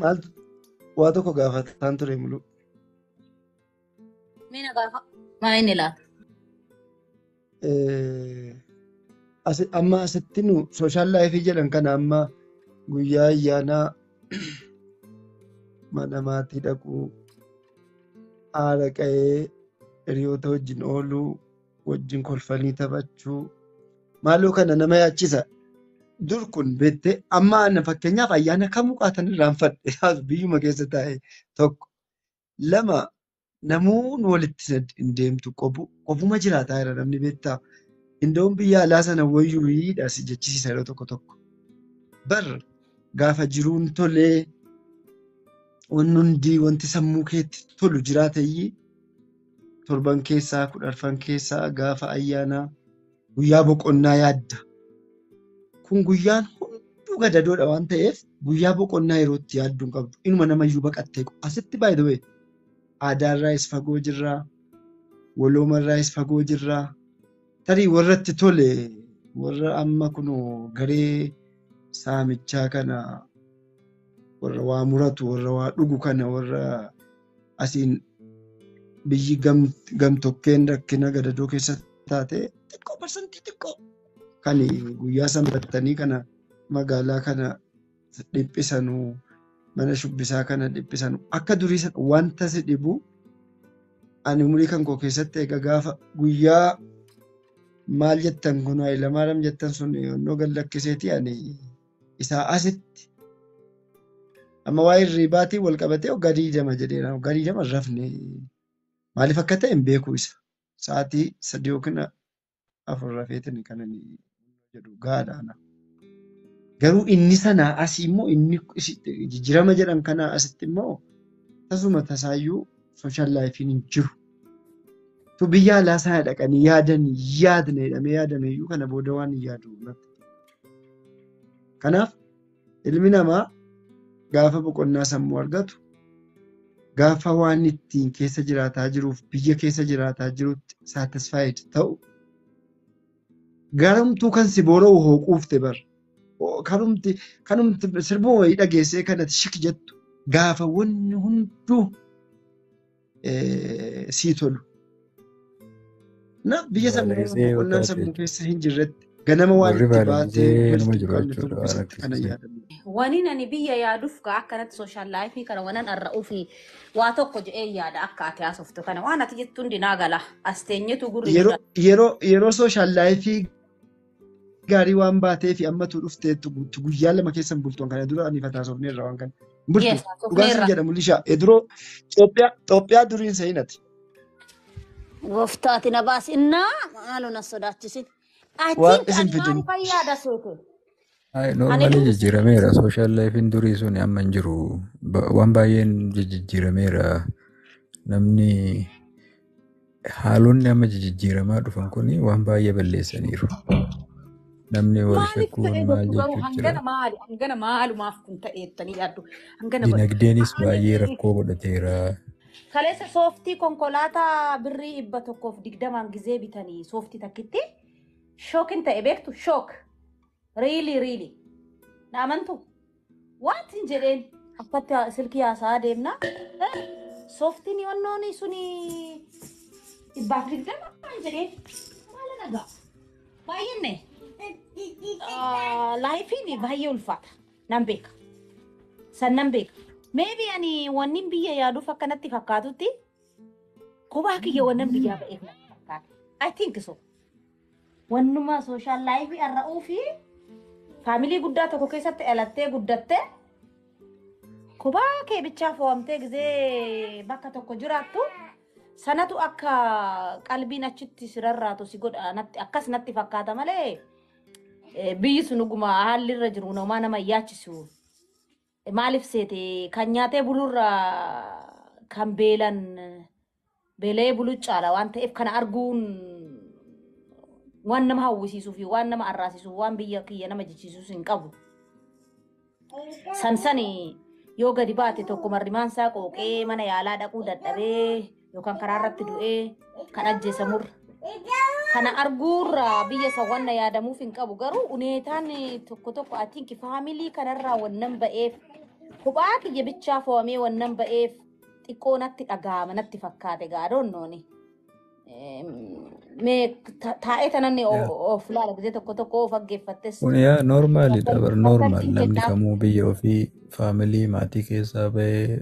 Maaltu waa tokko gaafataan ture muluu. Mee na gaafa. Maa inni laata? Eh, asi- Amma asitti nu sooshaal laayifii jedhan kana amma guyyaa ayyaanaa mana maatii dhaquu haadha qa'ee hiriyoota wajjin ooluu wajjin kolfanii taphachuu maaloo kana nama yaachisa. Dur kun beektee amma ana fakkeenyaaf ayyaana kamuu qaatan irraanfadhe taas biyyuma keessa taa'e tokko lama namoonni walitti sad- hin deemtu qobu qofuma jiraataa jira namni beektaa indoon biyya alaa sana wayyuu hiidha si jechisiisa yeroo tokko tokko bar gaafa jiruun tolee wanni hundi wanti sammuu keetti tolu jiraatayyii torban keessaa kudharfan keessaa gaafa ayyaanaa guyyaa boqonnaa yaadda. Kun guyyaan hunduu gadadoodha waan ta'eef guyyaa boqonnaa yeroo itti yaaddu hin qabdu. Inuma namayyuu baqattee asitti by the way aadaarraayis fagoo jirraa waloomarraayis fagoo jirraa tarii warra itti tole warra amma kun garee saamichaa kana warra waa muratu warra waa dhugu kana warra asiin biyyi gamtokkeen rakkina gadadoo keessa taate xiqqoo parsantii xiqqoo kan guyyaa sanbattanii kana magaalaa kana dhiphisanu mana shubbisaa kana dhiphisanu akka durii sana wanta si dhibu ani umurii kan koo keessatti egaa gaafa guyyaa maal jettan kun Hayilamaariyaam jettan sun yoonnoo gad lakkiseeti ani isaa asitti amma waa'ee hirriibaatiin wal qabatee waggaa digdama jedheera. Waggaa digdama hin rafne maaliif akka ta'e hin beeku isa. Sa'aatii sadii yookiin afur rafeetiin kan inni jedhu gaadha. Garuu inni sanaa asii immoo inni jijjiirama jedhan kanaa asitti immoo tasuma tasaayyuu sooshaal laayifiin hin jiru. Tu biyya alaa sana dhaqanii yaadan yaadna jedhamee yaadameyyuu kana booda waan hin yaadu. Kanaaf ilmi namaa gaafa boqonnaa sammuu argatu gaafa waan ittiin keessa jiraataa jiruuf biyya keessa jiraataa jirutti satisfied ta'u garumtuu kan si boora'u hoo quufte bar kanumti kanumti sirbuma wayii dhageessee kanati shik jettu gaafa wanni hunduu eh, sii tolu. Na biyya sana Baala gisee yoo boqonnaan taate sammuu keessa hin jirretti ganama waan warri itti baala baatee gisee nama galtu qabne jiraachuudha waan dubbisatti kana akkasii. yaadamu. Waniin ani biyya yaaduuf gaa akkanatti sooshaal laayifii kana wanan arra ufi waa tokko jedhee yaada akka ati haasoftu kana waan ati jettu hundi naa gala as teenyetu gurri nu Yeroo yeroo yeroo sooshaal laayifii gaarii waan baateefi ammatu dhufteettu guutu guyyaa lama keessa hin bultu kana dura ani fataasofneerra waan kana. Hin bultu. Yes, Dhugaan sin sofneerra. jedha mul'ishaa. Eduroo Itoophiyaa Itoophiyaa duriin seenati. Gooftaa ati na baasi. Innaa maaloo na sodaachisin. I Waan think isin ani waan fidin. fayyaada seete. Ay, Ani Normally dubbisa. jijjiirameera. Social life'n durii sun amma hin jiru. Ba- Waan baay'een jijjiirameera. Namni haalonni amma jijjiiramaa dhufan kun waan baay'ee balleessaniiru. Namni wal Maaliif shakkuun ta'ee maal jettu garuu jechuun jira. hangana maali hangana maalumaaf kun ta'ee jettanii yaaddu hangana godhe Dinagdeenis Ani baay'ee rakkoo godhateera. kaleessa sooftii konkolaataa birrii dhibba tokkoof digdamaan gizee bitanii sooftii takkitti shookin ta'e beektu shook Riilii riilii. Na amantu? Wantin jedheen akkatti haa- silkii haasaa deemna. Eh, Sooftiin yoonnoon suni dhibbaaf digdama waan jedheen maala nagaa. Baay'inne laayifiin baay'ee ulfaata. Nan beeka. San nan beeka. Meebi ani wannin biyya yaaduuf akkanatti fakkaatutti kophaa kiyya wannan biyyaa ba'eef natti fakkaata. I think so. Wannuma sooshaal laayivii arra'uu fi faamilii guddaa tokko keessatti dhalattee guddatte kophaa kee bichaa fo'amtee gizee bakka tokko jiraattu sanatu akka qalbiin achitti si rarraatu si godha natti akkas natti fakkaata malee eh, biyyi sun dhuguma haalli irra jiru namaa nama hin yaachisu. Maaliif seete kan nyaatee bulurra kan beelan Beela'ee buluu caala waan ta'eef kana arguun waan nama hawwisiisuu fi waan nama arraasisuuf waan biyya kiyya nama jechisiisus hin qabu. Sansani yoo gadi baate tokko marrimaan isaa qooqee mana yaalaa dhaquu dadhabee yookaan karaa irratti du'ee kan ajjeesamurra. Kana arguurra biyya isa wanna yaadamuuf hin qabu garuu uneetaan tokko tokko I think faamilii kanarraa wannan ba'eef kophaa kiyya bichaa fo'amee wannan ba'eef xiqqoo natti dhaga'ama natti fakkaate egaa adoonnooni. Mee ta- taa'ee tananni yaa of laala gisee tokko tokko of dhaggeeffattes kun yaa akka noormaalidha bar akka noormaal ittiin namni kennaaf kamuu biyya ofii faamilii maatii keessaa bahee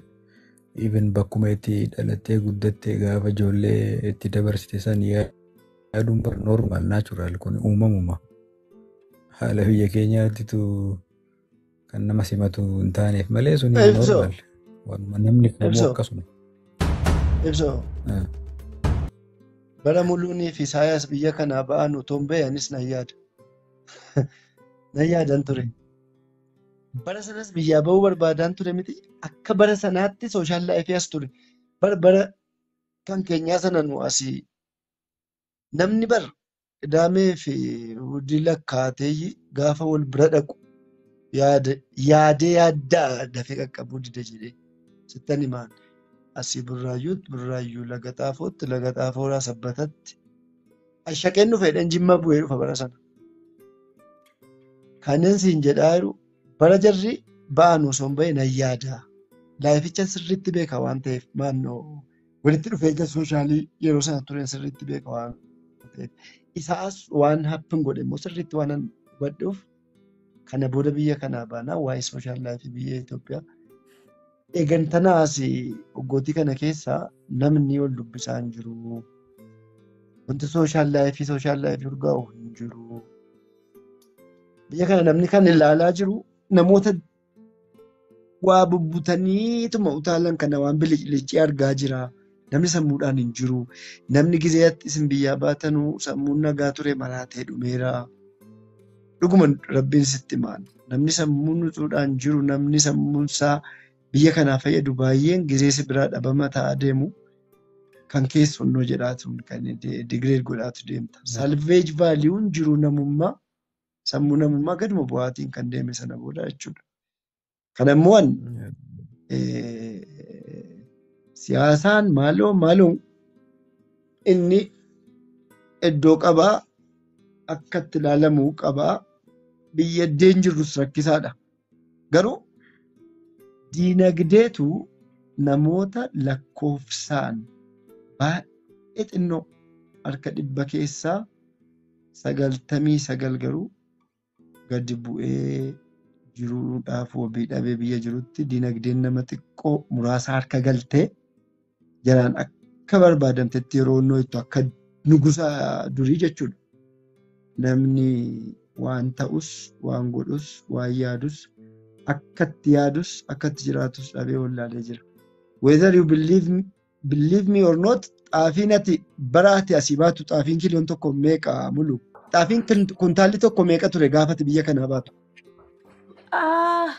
even bakkuma itti dhalattee guddatte gaafa ijoollee itti dabarsite san yaa- yaaduun bar noormaal naachuraal kun uumamuma haala biyya keenyaattitu Kan nama simatu hin taaneef malee sun hin Ibsu. normal. Waanuma namni kamuu Ibsu. akkasuma. Ibsu. Ah. Bara Muluunii fi Isaayaas biyya kanaa ba'an utuu hin bahe anis nan yaada. Nan yaadan ture. Bara sanas biyyaa ba'uu barbaadaan ture miti. Akka bara sanaatti sooshaal laayifii as ture. Bara bara kan keenyaa sana nu asii Namni bar qidaamee fi hudii lakkaateeyyi gaafa wal bira dhaqu yaada- yaadee yaadda'a dafee qaqqabuu dida jedhee sittan himaan asii burraayyuutti burraayyuu laga xaafootti laga xaafooraa sabbatatti ashaqeen dhufe jedheen jimma bu'ee dhufa bara sana kanneen siin jedhaa jiru bara jarri ba'an osoo hin bahin nan yaada laayificha sirriitti beeka waan ta'eef maannoo walitti dhufeenya sooshaalii yeroo sana ture sirriitti beeka waan ta'eef. Isaas waan happen godhe immoo sirriitti waan hubadhuuf kana booda biyya kanaa baanaa waa'ee sooshaal laayifii biyya Itoophiyaa. Eegantanaas waggootii kana keessa namni wal dubbisaa hin jiru. Wanti sooshaal laayifii sooshaal laayifii urgaa'u hin jiru. Biyya kana namni kan ilaalaa jiru namoota Waa bubbutaniituma utaalan kana waan biliclicii argaa jira. Namni sammuudhaan hin jiru. Namni gizee atti isin biyyaa baatanu sammuun nagaa ture maraatee dhumeera. Dhuguma rabbiin sitti maal. Namni sammuun utuudhaan jiru namni sammuun isaa biyya kanaa fayyadu baay'een gizee si biraa dhabama ta'aa deemu. Kan kees funnoo jedhaatu kan degrade godhaatu deemta. Salvage value jiru namummaa sammuu namummaa gaduma bu'aatiin kan deeme sana booda jechuudha. Kana immoo an siyaasaan maaloo maaloo inni iddoo qabaa akka itti ilaalamu qabaa biyya iddeen jirrus rakkisaadha. Garuu diinagdeetu namoota lakkoofsaan baay'ee xinnoo harka dhibba keessaa sagaltamii sagal garuu gadi bu'ee jiruudhaaf wabii dhabee biyya jirutti diinagdeen nama xiqqoo muraasa harka galtee jalaan akka barbaadamtetti yeroo nooyittu akka nugusa durii jechuudha. Namni waan ta'us, waan godhus, waan yaadus, akka itti yaadus, akka itti jiraatus dhabee wallaalee jira. Whether you believe me, believe me or not, xaafiin ati bara ati asii baatu xaafiin kiiloon tokko meeqa mulu? Xaafiin kun- kuntaalli tokko meeqa ture gaafati biyya kanaa baatu? Ah,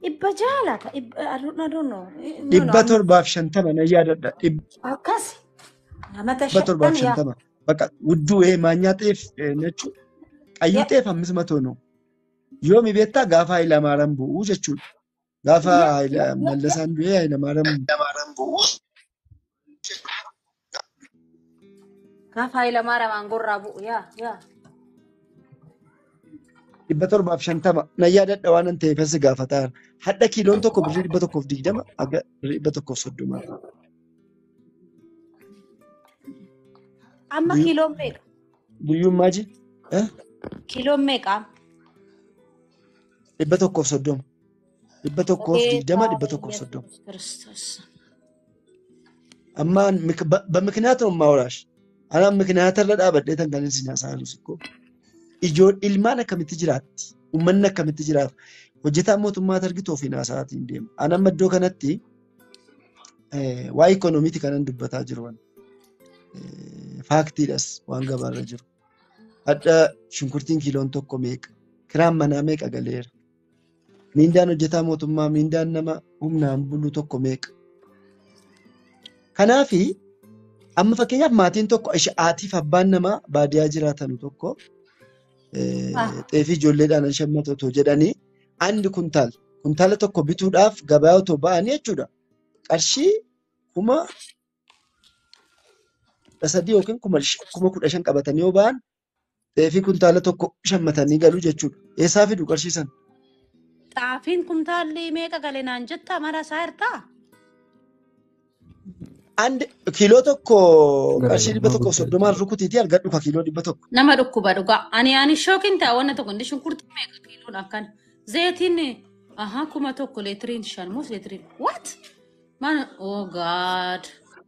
Dhibba ja'a laata? Dhibba I don't I don't know. Eh, No, no, dhibba amma torbaaf shantama na yaadadha dhibba akkas amata torbaaf shantan yaa shantama bakka wudduu ee maanyaa xeef ee, nechuu qayyuu yaa xeef hammis matoo noo yoomi beektaa gaafa Hayilamaaraan bu'uu jechuudha gaafa yaa Hayila- yaa yaa Mallasaan du'ee Hayilamaaraan Gaafa Hayilamaariyaam aangorraa bu'u yaa yaa. dhibba torbaaf shantama na yaadadha waan an ta'eef asi gaafataan hadha kiiloon tokko birrii dhibba tokkoof digdama haga birrii dhibba tokkoof soddoma Amma Guyyuu- kiiloon meeqa? guyyuun maaji eh? Kiiloon meeqa? dhibba tokkoof soddoma dhibba tokkoof Gooftaa digdama dhibba keenya tokkoof soddoma Yesuus Kiristoos. amma mik- ba- bamikinaata ummaa waraash anaan mikinaata irra dhaabadhee tan kan isin haasa'anus ikkoo ijoo ilmaan akkamitti jiraatti ummanni akkamitti jiraata hojjetaan mootummaa argitu ofiin haasa'aatiin deema an amma iddoo kanatti eh, waa'ee ikoonomiiti kanan dubbataa jiru waan eh, faaktiidhas waan gabaarra jiru hadha shunkurtiin kiiloon tokko meeqa kiraan manaa meeqa galeera Miindaan hojjetaa mootummaa miindaan nama humnaan bulu tokko meeqa? Kanaaf amma fakkeenyaaf maatiin tokko haatiif abbaan namaa baadiyaa jiraatan tokko xeefii ijoolleedhaan hin shammatu otoo jedhanii andi kuntaal kuntaala tokko bituudhaaf gabaa otoo ba'anii jechuudha qarshii kuma kudha sadii yookiin kuma kudha shan qabatanii yoo ba'an Xeefii kuntaala tokko shammatanii galu jechuudha. Eessaa fidu qarshii sana? Xaafiin kuntaalli meeqa gale naan jettaa mara isaa hirtaa? And kiiloo tokko Gara qarshii dhibba tokko gurgurtaa soddomaan jechuudha. rukutiitii argadhu ka kiiloo dhibba tokko. Nama dhukkuba dhugaa. Ani ani shookin ta'a wanna tokko inni shunkurtii meeqa kiiloon akkan. Zayitiin aha kuma tokko leetiriin shan moo leetiriin what? Man oh god.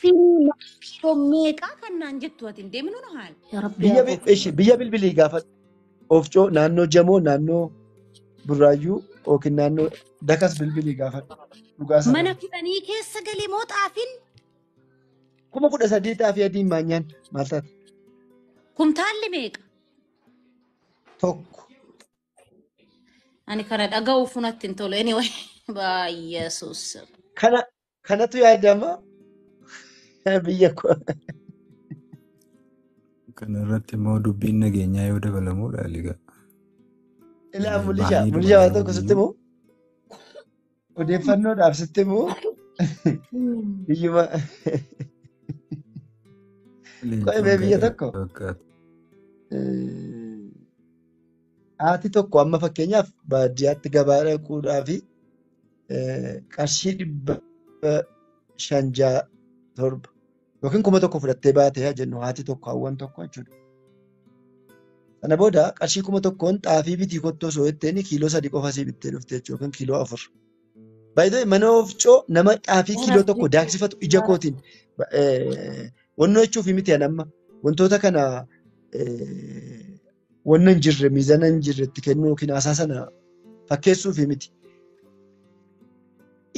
Firii kiiloo meeqaa kan naan jettu ati hin deemnu nu haala. Yaa Rabbi Biyya yaa bi- koflu. ishi biyya bilbilii gaafadhu. Ofcoo naannoo Jamoo naannoo Burraayyuu yookiin naannoo Dakas bilbilii gaafadhu. Dhugaa sana. Mana kudhanii keessa galee moo xaafin Kuma kudha sadii xaafii adii maanyaan maal taate? kumtaalli meeqa? Tokko. Ani kana dhaga'uuf natti hin tolu. Anyway, baay'eesuus. Kana kanatu yaadama biyya koo. Kana irratti immoo dubbiin nageenyaa yoo dabalamudha egaa Ilaa mulisha baay'ee mulisha waan tokko sitti dubalamaniyyuu moo Odeeffannoodhaaf sitti immoo Hmm. biyyuma qo'ee mee biyya tokko eh, haati tokko amma fakkeenyaaf baadiyyaatti gabaa dhaquudhaa fi eh, qarshii dhibba shan ja'a torba yookiin kuma tokko fudhattee baate haa jennu haati tokko hawwan tokko jechuudha. Sana booda qarshii kuma tokkoon xaafii bitii kottoo osoo jetteen kiiloo sadii qofa sii bittee dhufte jechuudha yookiin kiiloo afur. Baay'ee mana oofcoo nama xaafii kiiloo tokko daaksifatu ija kootiin wannoo jechuuf miti an amma wantoota kana wanna hin jirre miizana hin jirre itti kennuu yookiin haasaa sana fakkeessuuf miti.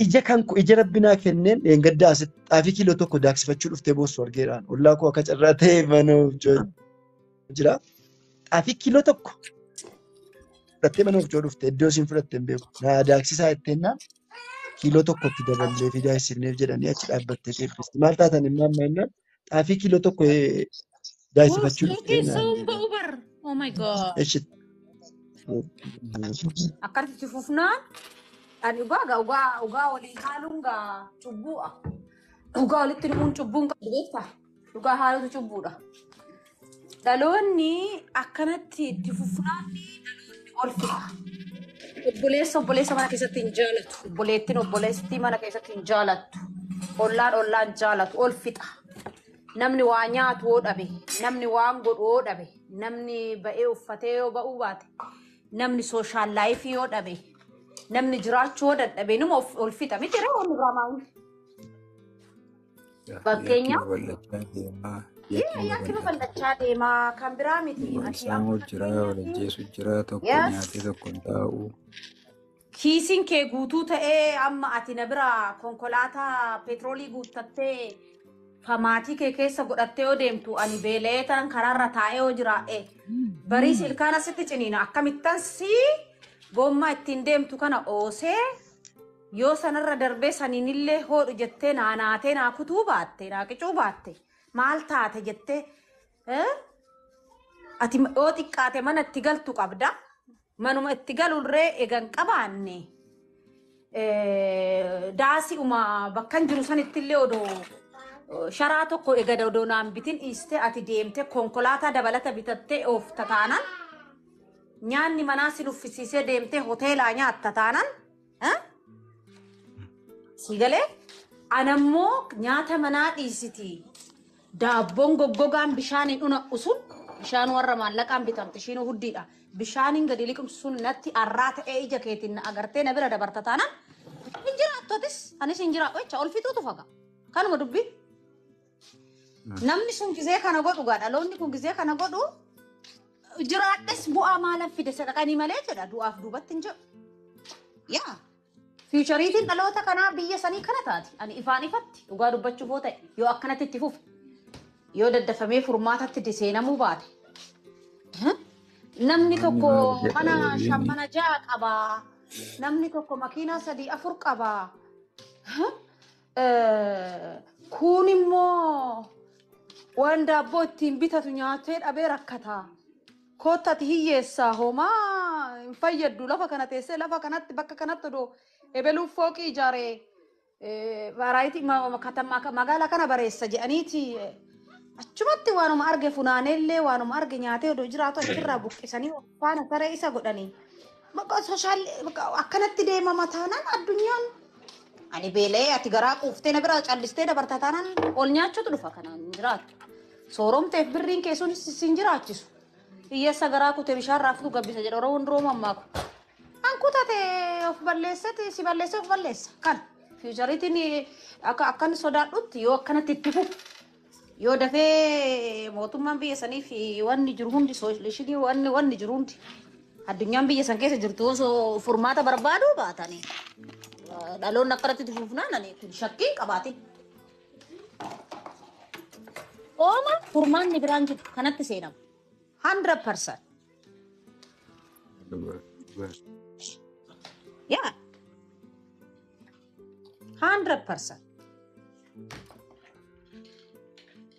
Ija kan koo ija rabbi naa kenneen dheengaddaa asitti xaafii kiiloo tokko daaksifachuu dhuftee boossu argeeraan ollaa koo akka carraa ta'e mana hojjoo jira. Xaafii kiiloo tokko fudhattee mana hojjoo dhufte iddoo isiin fudhatte hin beeku. Naa daaksisaa jetteenna kiiloo tokkotti daballee fi daaksifneef jedhanii achi dhaabbattee deebiste. Maal taatan immoo amma jennaan xaafii kiiloo tokko eh, Uff, daayisifachuu yoo dhuftee keessoo naan hin ba'u bar. Oh my god. eshi Akkatti fufnaan ani dhugaa gaa dhugaa dhugaa walii haaluun gaa cubbuudha. Dhugaa walitti himuun cubbuun qabu beektaa? Dhugaa haaluutu cubbuudha. Dhaloonni akkanatti itti fufnaan dhaloonni ol fixa. Obboleessa obboleessa mana keessatti hin jaalatu. Obboleettiin obboleessi mana keessatti hin jaalattu. Ollaan ollaan hin jaalatu. Ol fixa. Namni waa nyaatu yoo dhabe, namni waan godhu yoo dhabe, namni ba'ee uffatee yoo ba'uu baate, namni sooshaal laayifii yoo dhabe, namni jiraachuu yoo dadhabe numa of- ol fixa. Miti yeroo ol irraa maa'uun. Yakki Fakkeenyaaf babal'achaa deemaa. Yakki Yaa- ni yakki babal'ata. babal'achaa deema kan biraa miti Wal ati amma saamuu jira, wal fakkeenyaaf ajjeesuu jira, tokko yes nyaatee tokko hin taa'u. kiisiin kee guutuu ta'ee amma ati na bira konkolaataa peetroolii guuttattee famaatii kee keessa godhattee yoo deemtu ani beela'ee ta'an karaarra taa'ee yoo jiraadhe bariis ilkaan asitti ciniina akkamittan si gommaa ittiin deemtu kana oosee Yoo sanarra darbee saniinillee hoodhu jettee naa naatee naa kutuu baatte naa qicuu baatte maal taate jettee eh? ati ma- yoo xiqqaate mana itti galtu qabda manuma itti galurree egan qabaanne eh, daasi uma bakkan jiru sanittillee odoo eh, sharaa tokko egada odoo naan bitin dhiiste ati deemte konkolaataa dabalata bitattee oofta taanaan nyaanni manaa si nuffisiisee deemtee hoteelaa nyaatta taanaan Sii galee anammoo nyaata manaa dhiisiti. Daabboon goggogaan bishaaniin una'u sun bishaan warra maallaqaan bitamte ishiin huddiidha. Bishaaniin gadi liqimsu sun natti arraa ta'ee ija keetiin na agartee na bira dabarta taanaan hin jiraattotis anis hin jiraadhu jecha ol fixuutu faga. Kanuma dubbii. Namni sun gizee kana godhu gaa dhaloonni kun gizee kana godhu jiraadhes bu'aa maalan fide sadaqanii malee jedha du'aaf duubatti hin jedhu. Yaa fiichariitiin dhaloota kanaa biyya sanii kana taati. Ani ifaan ifatti dhugaa dubbachuuf hoo ta'e yoo akkanatti itti fufe yoo daddafamee furmaatatti diseenamuu baate Huh? Namni Namni tokko maal jedha mana shan waliin mana ja'a qaba. Namni tokko makiinaa sadii afur qaba. Huh? Kuun immoo waan daabboo ittiin bitatu nyaatee dhabee rakkataa. Koottati hiyyeessaa homaa hin fayyaddu lafa kana teessee lafa kanatti bakka kanatti odoo ebeluuf fooqii ijaaree baaraayitii magaalaa kana bareessa jedhaniiti achumatti waanuma arge funaaneellee waanuma arge nyaatee odoo jiraatu achirraa buqqisanii faana saree isa godhanii. Maqaa sooshaal akkanatti deemama taanaan addunyaan ani beela'ee ati garaa quuftee na biraa callistee dabarta taanaan ol nyaachuutu dhufa kanaan hin jiraatu. Sooromteef birriin kee sun sin jiraachisu. Hiyyeessa garaa kutee bishaan raaftuu gabbisa jedha Oromoon duroo mammaaku. An kutate of balleessati si balleessee of balleessa. Kan fiichariitiin akka akkan sodaadhutti yoo akkanatti itti fufu Yoo dafee mootummaan biyya saniif wanni jiru hundi soolishinii wanni wanni jiru hundi addunyaan biyya san keessa jirtu osoo furmaata barbaaduu baatanii eh, dhaloonni akkanatti itti fufnaan ani kun shakkii hin qabaatin. Ooma furmaanni biraan jiru kanatti seenama. 100%. Yaa 100 percent.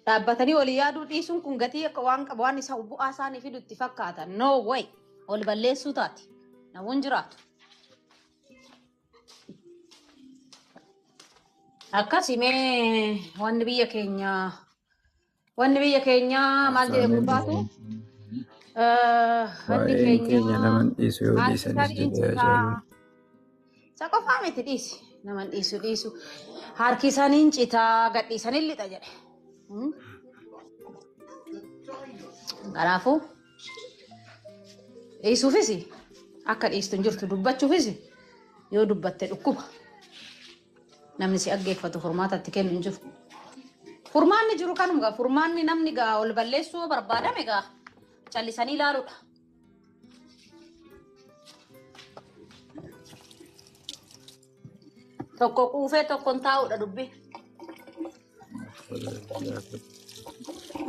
Dhaabbatanii olii yaaduu dhiisuun kun gatii akka waan qabu waan isa bu'aa isaanii fidu itti fakkaata. No way. Ol balleessuu taati. Namoonni jiraatu. Akkasumee wanni biyya keenyaa Wanni biyya keenyaa maal jedhe Aftaameen gurbaatu? Eh, Wanni waa'een keenya keenyaa naman dhiisu yoo haati dhiisanis tarii jedhee haa citaa. jedhu. Isa qofaa miti dhiisi. Naman dhiisu dhiisu. Harki isaaniin citaa gadhiisaniin lixa jedhe. Hmm? Kanaafuu dhiisuufis akka dhiistu hin jirtu dubbachuufis yoo dubbatte dhukkuba. Namni si dhaggeeffatu furmaata itti kennu hin jiru. Furmaanni jiru kanuma gaa furmaanni namni gaa ol balleessuu yoo barbaadame gaa callisanii ilaaluudha. Tokko quufee tokkon taa'uudha dubbi.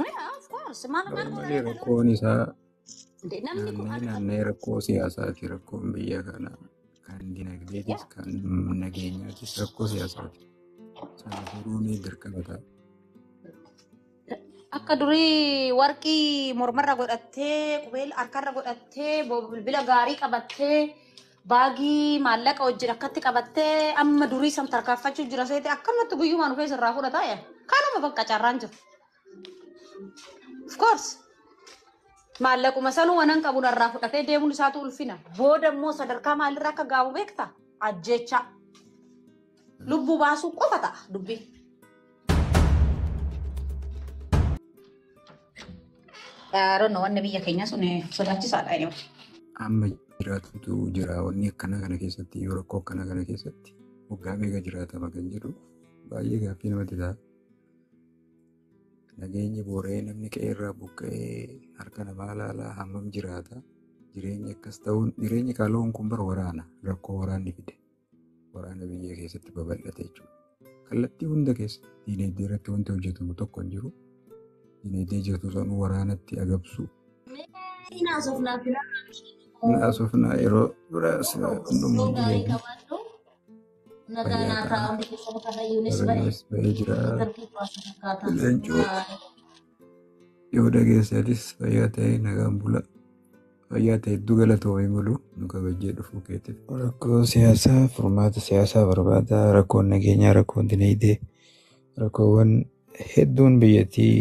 Yeah, of course. Maal maal Malee rakkoon isaa Namni kun Naannee akka naannee rakkoo siyaasaati. Rakkoon biyya kanaa kan dinagdeetis yaa kan nageenyaatis rakkoo siyaasaati. Sana furuun dirqama ta'a. akka durii warqii mormarra godhattee qubeel harkarra godhattee bo- bilbila gaarii qabattee baagii maallaqa wajjin akkatti qabattee amma durii san tarkaanfachuu jira seete akkanumatti guyyumaan dhufee sirraa fudhata yaa kanuma bakka carraan jiru. Of course. Maallaquma sanuu wanan qabu narraa fudhatee deemuun isaatu ulfina. Booda immoo sadarkaa maalirra akka gaa'u beekta? Ajjeechaa. Lubbuu baasuu qofa ta'a dubbii. Yaadonni wanni biyya keenya sun sodaachisaadha. Anyway. Amma jiraatutu jira wanni akkana kana keessatti yoo rakkoo akkana kana keessatti waggaa meeqa jiraatama kan jedhu baay'ee gaaffii namatti ta'a. Nageenyi boora'ee namni qe'eerraa buqqa'ee harka namaa ilaalaa hammam jiraata. Jireenyi akkas ta'uun jireenyi qaaloon kun bara waraana rakkoo waraanni fide waraana biyya keessatti babal'ate jechuudha. Kallattii hunda keessatti diinagdee irratti wanti hojjetamu tokko hin jiru. Diinagdee jirtu sanuu waraanatti agabsu. Naasofnaa yeroo biraas hundumtuu diinagdee. Nagaa fayyaa naaf ta'a ta'a. hundi keessan karrayyuunis ba'e. Karrayyuunis ba'ee jira. Intervii qo'atu fakkaata. Leencoo Bye. yoo dhageessatis fayyaa ta'ee nagaan bula. Fayyaa ta'e hedduu galatoomii mulu nu kabajjee dhufuu keetiif. Rakkoo siyaasaa furmaata siyaasaa barbaada. Rakkoon nageenyaa, rakkoon dinagdee, rakkoowwan hedduun biyyattii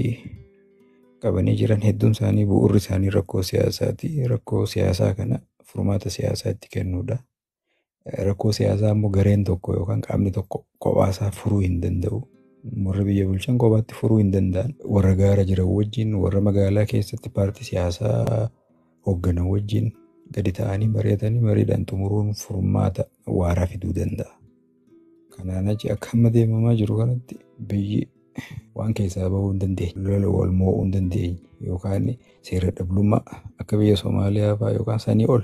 qabanii jiran hedduun isaanii bu'uurri isaanii rakkoo siyaasaati. Rakkoo siyaasaa kana furmaata siyaasaa itti kennuudha. Rakkoo siyaasaa immoo gareen tokko yookaan qaamni tokko kophaasaa furuu hin danda'u. Warri biyya bulchan kophaatti furuu hin danda'an. Warra gaara jiran wajjin, warra magaalaa keessatti paartii siyaasaa hoogganan wajjin gadi ta'anii mari'atanii mariidhaan xumuruun furmaata waaraa fiduu danda'a. Kanaan achi akka amma deemamaa jiru kanatti biyyi waan keessaa bahuu hin dandeenye, lola wal mo'uu hin dandeenye yookaan seera dhablummaa akka biyya Somaaliyaa fa'aa yookaan sanii ol